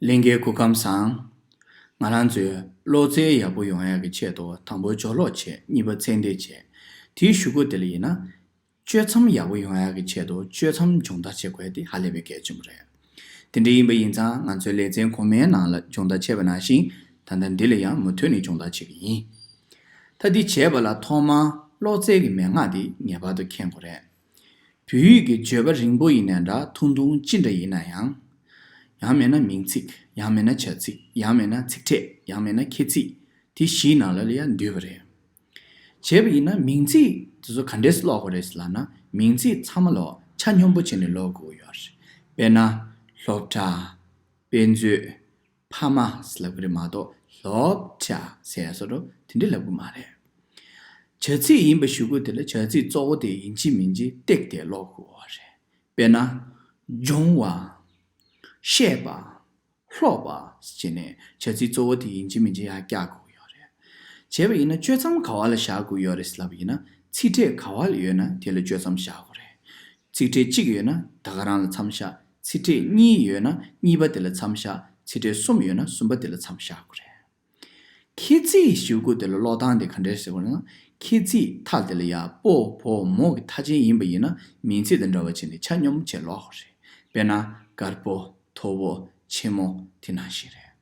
གླིང་གའི་སྐུ་ཁམས་བཟང། ང་རང་ཚོས་གློག་རྫས་ཡག་པོ་ཡོང་ཡག་གི་ཆེད་དུ་དང་པོ་སྦྱོར་གློག་ཆེད་གཉིས་པ་ཚད་འདེད་བྱས། དེའི་ཞུ་སྒོ་དེ་ལ་ཡིན་ན། གཅོད་མཚམས་ཡག་པོ་ཡོང་ཡག་གི་ཆེད་དུ་གཅོད་མཚམས་སྦྱོང་བརྡར་བྱེད་དགོས་དེ་ཧ་ལས་པའི་གལ་ཆེན་པོ་རེད། དེ་འདྲ་ཡིན་པ་ཡིན་ཙང་ང་ཚོའི་ལེ་ཚན་གོང་མའི་ནང་ལ་སྦྱོང་བརྡར་བྱས་པ་ནང་བཞིན་ད་ལྟ་འདི་ལ་ཡང་མུ་མཐུད་ནས་སྦྱོང་བརྡར་བྱེད་ཀྱི་ཡིན། ད་འདི་བྱས་པ་ལ་ཐོག་མར་གློག་རྫས་ཀྱི་མན་ངག་དེ་ངེས་པར་དུ་མཁྱེན་དགོས་རེད། བོད་ཡིག་གི་བརྗོད་པ་རིང་པོ་ཡིན་ནའི་འདྲ་ཐུང་ཐུང་ཅི་འདྲ་ཡིན་ན་ཡང། ཡང་མེད་ན་མིང་ཚིག་ཡང་མེད་ན་བྱ་ཚིག་ཡང་མེད་ན་ཚིག་ཕྲད་ཡང་མེད་ན་ཁྱད་ཚིག་དེ་བཞིའི་ནང་ལ་ལ་ཡང་འདུས་པ་རེད། བྱས་པ་ཡིན་ན་མིང་ཚིག་དེ་ཚོ་ག་འདྲས་ཀློག་པ་རེད་ཟེར་ལབ་ན་མིང་ཚིག་ཚང་མ་ལོག་ཆ་སྙོམས་པོ་བྱས་ནས་ཀློག་དགོས་ཀྱི་ཡོད་རེད། དཔེར་ན། སློབ་གྲྭ། དཔེ་མཛོད། ཕ་མ་ལབ་གི་རེད་མ་གཏོགས་སློབ་བྱ་ཟེར་ཡ་སོ་རོ་དེ་འདྲས་ལབ་གི་མ་རེད། བྱ་ཚིག་ཡིན་པ་ཞུ་གི་དེ་ལ་བྱ་ཚིག་གཙོ་བོ་དེ་ཡིན་གྱི་མིན་གྱི་བཏེགས་ཏེ་ཀློག་དགོས་བ་རེད། དཔེར་ན། སྦྱོང་བ། བཤད་པ། ཀློག་པ། ཅེས་ནས་བྱ་ཚིག་གཙོ་བོ་དེ་ཡིན་གྱི་མིན་གྱི་ཡ་བཀྱག་དགོས་ཀྱི་ཡོད་རེད། བྱས་པ་ཡིན་ན་གཅོད་མཚམས་ག་བ་ལ་བཞག་དགོས་ཡོད་རེད་ཟེར་ལབ་ཡིན་ན་ཚིག་ཕྲད་ག་བ་ལ་ཡོད་ན་དེ་ལ་གཅོད་མཚམས་བཞག་དགོས་རེད། ཚིག་ཕྲད་གཅིག་ཡོད་ན་ད་ག་རང་ལ་མཚམས་བཞག་ཚིག་ཕྲད་གཉིས་ཡོད་ན་གཉིས་པ་དེ་ལ་མཚམས་བཞག་ཚིག་ཕྲད་གསུམ་ཡོད་ན་གསུམ་པ་དེ་ལ་མཚམས་བཞག་གོ། རེད། ཁྱེད་ཚིག་ཞིབ་གོ་དེ་ལ་ཀློག་སྟངས་དེ་ག་འདྲའི་ཟེར་བ་ན། ཁྱེད་ཚིག་མཐའ་དེ་ལ་ཡ། པོ། བོ། མོ་གི་མཐའ་ཅན་ཡིན་པ་ཡིན་ན་མིང་ཚིག་དང་འདྲ་བ་བྱས་ནས་ཆ་སྙོམས་བྱས་ཀློག་གོ། རེད། དཔེར་ན། དཀར་པོ། མཐོ་བོ། ཆེན་མོ། དེ་ནང་བཞིན་རེད།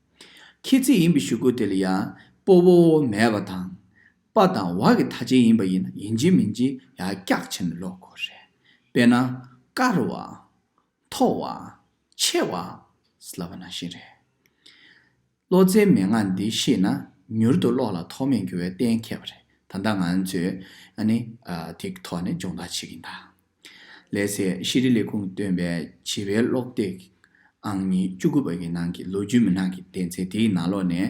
ཁྱེད་ཚིག་ཡིན་པའི་ཞིབ་གོ་དེ་ལ་ཡ། པོ། བོ། མོ། མེད་པ་དང། པ་དང་བ་གི་ཐ་ཆད་ཡིན་པ་ཡིན་ན་ཡིན་གཅིག་མིན་གཅིག་ཡང་སྐྱག་བྱེད་ནི་ལོག་གོ་རེད། དཔེར་ན། དཀར་བ། མཐོ་བ། ཆེ་བ། ལབ་པ་ནང་བཞིན་རེད། བློ་རྩེའི་མན་ངག་འདི་ཤེས་ན་མྱུར་དུ་བློ་ལ་ཐོགས་མེད་འགྱུར་བའི་གཏན་འཁེལ་བ་རེད། ད་ལྟ་ང་ཚོས་ཨ་ནི་དེ་གི་ཐོག་ནས་སྦྱོང་བརྡར་བྱེད་ཀྱིན་གདའ། ལས་ཚེ་ཤེས་རིག་ལས་ཁུངས་བཏོན་པའི་བྱིས་པའི་ཀློག་སྟེགས་ཨང་ཉིས་བཅུ་དགུ་པ་གི་ནང་གི་ལོ་རྒྱུས་མི་ནག་གི་གཏན་ཚིགས་དེའི་ནང་ལོགས་ནས།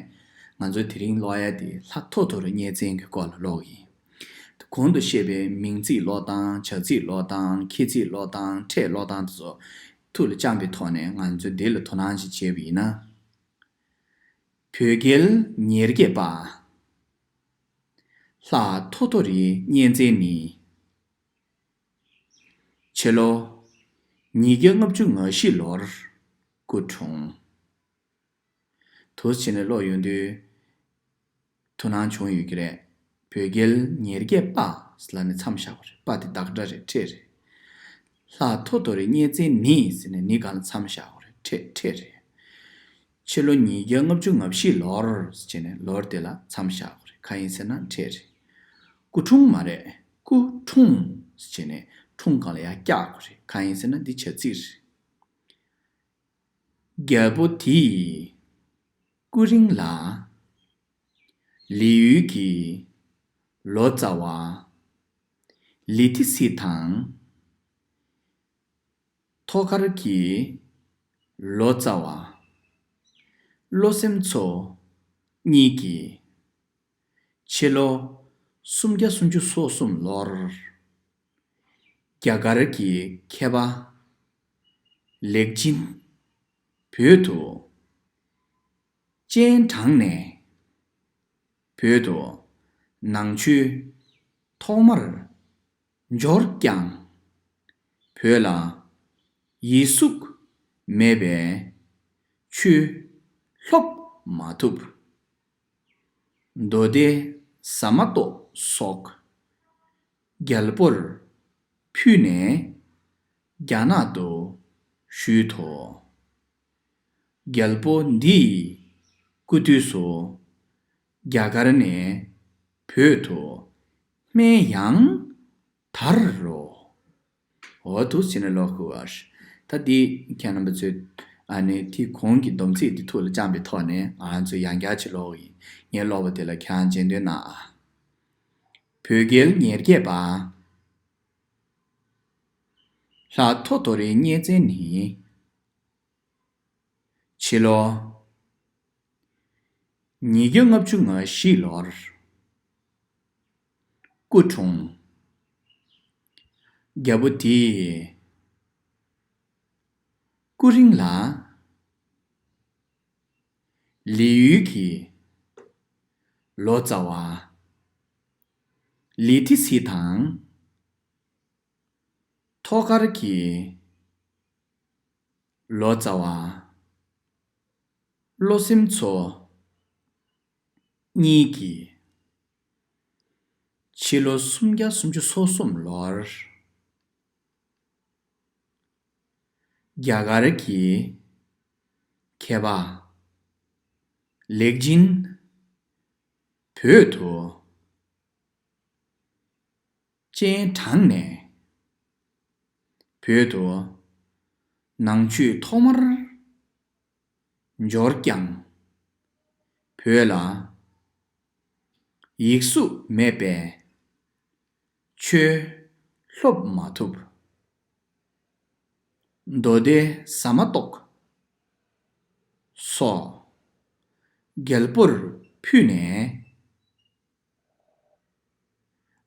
ང་ཚོ་དེ་རིང་ཀློག་ཡ་དེ་ལྷག་ཐོ་ཐོ་རུ་གཉེར་ཚན་གྱི་སྐོར་ལ་ཀློག་གི་ཡིན། གོང་དུ་བཤད་པའི་མིང་ཚིག་ཀློག་སྟངས་བྱ་ཚིག་ཀློག་སྟངས་ཁྱད་ཚིག་ཀློག་སྟངས་ཕྲད་ཀློག་སྟངས་དེ་ཚོ་ཐུགས་ལ་བཅངས་པའི་ཐོག་ནས་ང་ཚོས་དེ་ལ་དོ་སྣང་ཞིག་བྱས་པ་ཡིན་ན། བོད་རྒྱལ་ཉེར་བརྒྱད་པ། ལྷག་ཐོ་ཐོ་རི་གཉེར་ཚན་ནི། ཕྱི་ལོ་ཉིས་བརྒྱ་ལྔ་བཅུ་ང་བཞི་ལོར་སྐུ་འཁྲུངས། དུ་ཕྱི་ནས་ལོག་ཡོང་དུས་དུ་སྣང་བྱུང་ཡོད་ཀྱི་རེད། བོད་རྒྱལ་ཉེར་བརྒྱད་པ་ཟེར་ལ་ནི་མཚམས་བཞག་པ་རེད་པ་དེ་བདག་སྒྲ་རེད་ཁྲེད་རེད། ལྷ་ཐོ་ཐོ་རེད་སྙེ་བཙན་ནི་ཟེར་ནས་ནི་གང་ལ་མཚམས་བཞག་པ་རེད་ཁྲེད་ཁྲེད་རེད། ཕྱི་ལོ་ཉིས་བརྒྱ་ལྔ་བཅུ་ང་བཞི་ལོར་བྱས་ནས་ལོར་དེ་ལ་མཚམས་བཞག་དགོས་རེད་གང་ཡིན་ཟེར་ན་འཕྲད་རེད། སྐུ་འཁྲུངས་མ་རེད་སྐུ་འཁྲུངས་བྱས་ནས་འཁྲུངས་གང་ལ་ཡང་བཀྱག་དགོས་རེད་གང་ཡིན་ཟེར་ན་འདི་བྱ་ཚིག་རེད། རྒྱལ་པོ་དེས་སྐུ་རིང་ལ། ལི་ཡུལ་གྱི་ལོ་ཙཱ་བ། ལི་ཐི་སི་དང། ཐོག་ཁར་གྱི་ལོ་ཙཱ་བ། བློ་སེམས་ཚོ་གཉིས་ཀྱིས། ཕྱི་ལོ་སུམ་བརྒྱ་སུམ་ཅུ་སོ་གསུམ་ལོར། རྒྱ་གར་གྱི་མཁས་པ། ལེགས་སྦྱིན། བོད་དུ། སྤྱན་དྲངས་ནས། བོད་དུ། ནང་ཆོས། ཐོག་མར། འབྱོར་ཀྱང། བོད་ལ་ཡིད་གཟུགས་མེད་པས། ཆུ་ལྷོག་མ་ཐུབ། མདོ་སྡེ་ཟ་མ་ཏོག་སོགས། རྒྱལ་པོར་ཕུལ་ནས་རྒྱ་ནག་ཏུ་བཞུད་དོ། རྒྱལ་པོ་འདི་ཡི་སྐུ་དུས་སུ། རྒྱ་གར་ནས་བོད་དུ་སྨན་ཡང་དར་རོ། འོ་ཐུགས་ཆེ་ནས་ལོག་ཁུལ་བ། ད་འདི་མཁན་རྣམ་པ་ཚོས་ཨ་ནེ་དེ་གོང་གི་སྡོམ་ཚིག་འདི་ཐུགས་ལ་བཅངས་པའི་ཐོག་ནས་ང་ཚོས་ཡང་བསྐྱར་ཕྱིར་ལོག་ཡིན་ངེས་ལོག་པ་དེ་ལ་ཁྱེད་རང་མཇལ་འདོད་ན་ཨ། བོད་རྒྱལ་ཉེར་བརྒྱད་པ། ལྷ་ཐོ་ཐོ་རེའི་གཉེར་མཚན་ནི། ཕྱི་ལོ་ཉིས་བརྒྱ་ལྔ་བཅུ་ང་བཞི་ལོར། སྐུ་འཁྲུངས། རྒྱལ་པོ་དེས། སྐུ་རིང་ལ། ལི་ཡུལ་གྱི། ལོ་ཙཱ་བ། ལི་ཐི་སི་དང། ཐོག་མཁར་གྱི། ལོ་ཙཱ་བ། བློ་སེམས་ཚོ། གཉིས་ཀྱིས། ཕྱི་ལོ་སུམ་བརྒྱ་སུམ་ཅུ་སོ་གསུམ་ལོར། རྒྱ་གར་གྱི། མཁས་པ། ལེགས་སྦྱིན། བོད་དུ། སྤྱན་དྲངས་ནས། བོད་དུ། ནང་ཆོས་ཐོག་མར། འབྱོར་ཀྱང། བོད་ལ། ཡིག་གཟུགས་མེད་པས། ཆོས། སློབ་མ་ཐུབ། མདོ་སྡེ་ཟ་མ་ཏོག། སོགས། རྒྱལ་པོར་ཕུལ་ནས།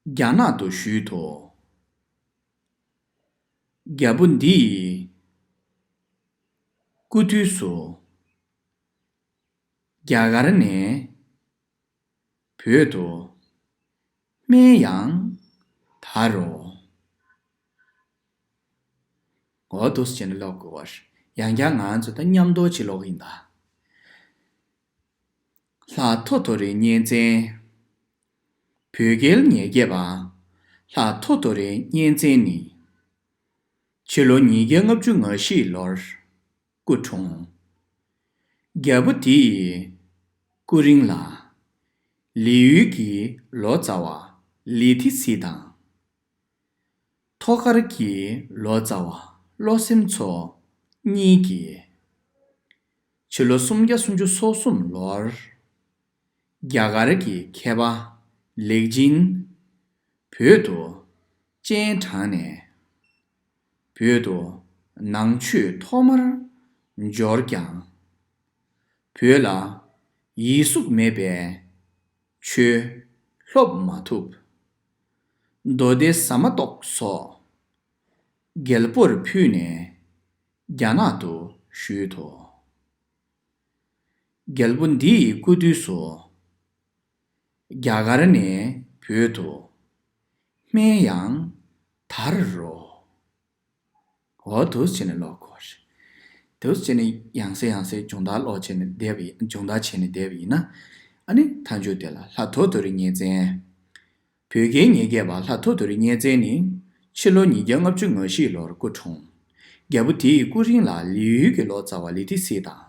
རྒྱ་ནག་ཏུ་བཞུད་དོ། རྒྱལ་པོ་འདི་ཡི། སྐུ་དུས་སུ། རྒྱ་གར་ནས། བོད་དུ། སྨན་ཡང། དར་རོ། འོ་དོ་ཟེར་ནས་ལོག་དགོས་པ། ཡང་བསྐྱར་ང་ཚོ་ད་མཉམ་འདོར་བྱེད་ལོག་གི་ཡིན་ད། ལྷ་ཐོ་ཐོ་རི་གཉན་བཙན། བོད་རྒྱལ་ཉེར་བརྒྱད་པ། ལྷ་ཐོ་ཐོ་རི་གཉན་བཙན་ནི། ཕྱི་ལོ་ཉིས་བརྒྱ་ལྔ་བཅུ་ང་བཞི་ལོར་སྐུ་འཁྲུངས། རྒྱལ་པོ་འདི་ཡི་སྐུ་རིང་ལ། ལི་ཡུལ་གྱི་ལོ་ཙཱ་བ་ལི་ཐི་སི་དང། ཐོག་སྐར་གྱི་ལོ་ཙཱ་བ་བློ་སེམས་མཚོ་གཉིས་ཀྱིས། ཕྱི་ལོ་སུམ་བརྒྱ་སུམ་ཅུ་སོ་གསུམ་ལོར། རྒྱ་གར་གྱི་མཁས་པ་ལེགས་ཅིན། བོད་དུ་སྤྱན་དྲངས་ནས། བོད་དུ་ནང་ཆོས་ཐོག་མར་འབྱོར་ཀྱང། བོད་ལ་ཡིད་གཟུགས་མེད་པས་ཆོས་སློབ་མ་ཐུབ། མདོ་སྡེ་ཟ་མ་ཏོག་སོགས་རྒྱལ་པོར་ཕུལ་ནས་རྒྱ་ནག་ཏུ་བཞུད་དོ། རྒྱལ་པོ་འདི་ཡི་སྐུ་དུས་སུ། རྒྱ་གར་ནས་བོད་དུ་སྨན་ཡང་དར་རོ། འོ་དུས་བྱས་ནས་ཀློག་དགོས་རེད། དུས་བྱས་ནས་ཡང་སེ་ཡང་སེ་སྦྱོང་བརྡར་ཀློག་བྱས་ནས་བསྡད་པ་ཡིན། སྦྱོང་བརྡར་བྱས་ནས་བསྡད་པ་ཡིན། ཨ་ནི་མཐའ་མཇུག་དེ་ལ་ལྷ་ཐོ་ཐོ་རི་གཉེར་བཙན། བོད་རྒྱའི་ཉེ་རྒྱས་པ་ལྷ་ཐོ་ཐོ་རི་གཉེར་བཙན་ནི། ཕྱི་ལོ་ཉིས་བརྒྱ་ལྔ་བཅུ་ང་བཞི་ལོར་སྐུ་འཁྲུངས། རྒྱལ་པོ་དེའི་སྐུ་རིང་ལ་ལི་ཡུལ་གྱི་ལོ་ཙཱ་བ་ལི་ཏི་སི་དང།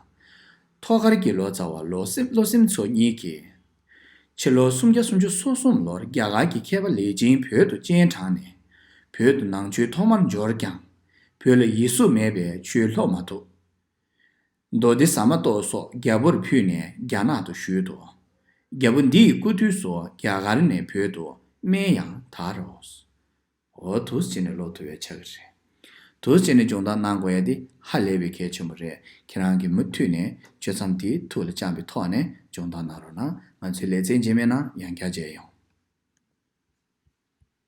ཐོག་མཁར་གྱི་ལོ་ཙཱ་བ་ལོ་སིམ་མཚོ་གཉིས་ཀྱིས་ཕྱི་ལོ་སུམ་བརྒྱ་སུམ་ཅུ་སོ་གསུམ་ལོར་རྒྱ་གར་གྱི་མཁས་པ་ལེ་ཅིན་བོད་དུ་སྤྱན་དྲངས་ནས། བོད་དུ་ནང་ཆོས་ཐོག་མར་འབྱོར་ཀྱང། བོད་ལ་ཡིད་གཟུགས་མེད་པས་ཆོས་ལྷོག་མ་ཐུབ། མདོ་སྡེ་ཟ་མ་ཏོག་སོགས་རྒྱ་བོར་ཕུད་ནས་རྒྱ་ནག་ཏུ་བཞུད་དོ། རྒྱ་བོ་འདི་ཡི་སྐུ་དུས་སུ་རྒྱ་གར་ནས་བོད་དུ་སྨན་ཡང་དར་རོ། འོ་དུས་ཚོད་ནི་ལོ་དུ་བའི་ཆ་གི་རེད། དུས་ཚོད་ནི་སྦྱོང་བརྡར་གནང་དགོས་ཡ་དེ་ཧ་ལས་པའི་གལ་ཆེན་པོ་རེད་ཁྱེད་རང་གིས་མུ་མཐུད་ནས་གཅོད་མཚམས་དེ་ཐུགས་ལ་བཅངས་པའི་ཐོག་ནས་སྦྱོང་བརྡར་གནང་རོགས་གནང་ང་ཚོའི་ལས་ཚན་རྗེས་མའི་ནང་ཡང་རྒྱ་བྱས་ཡོང།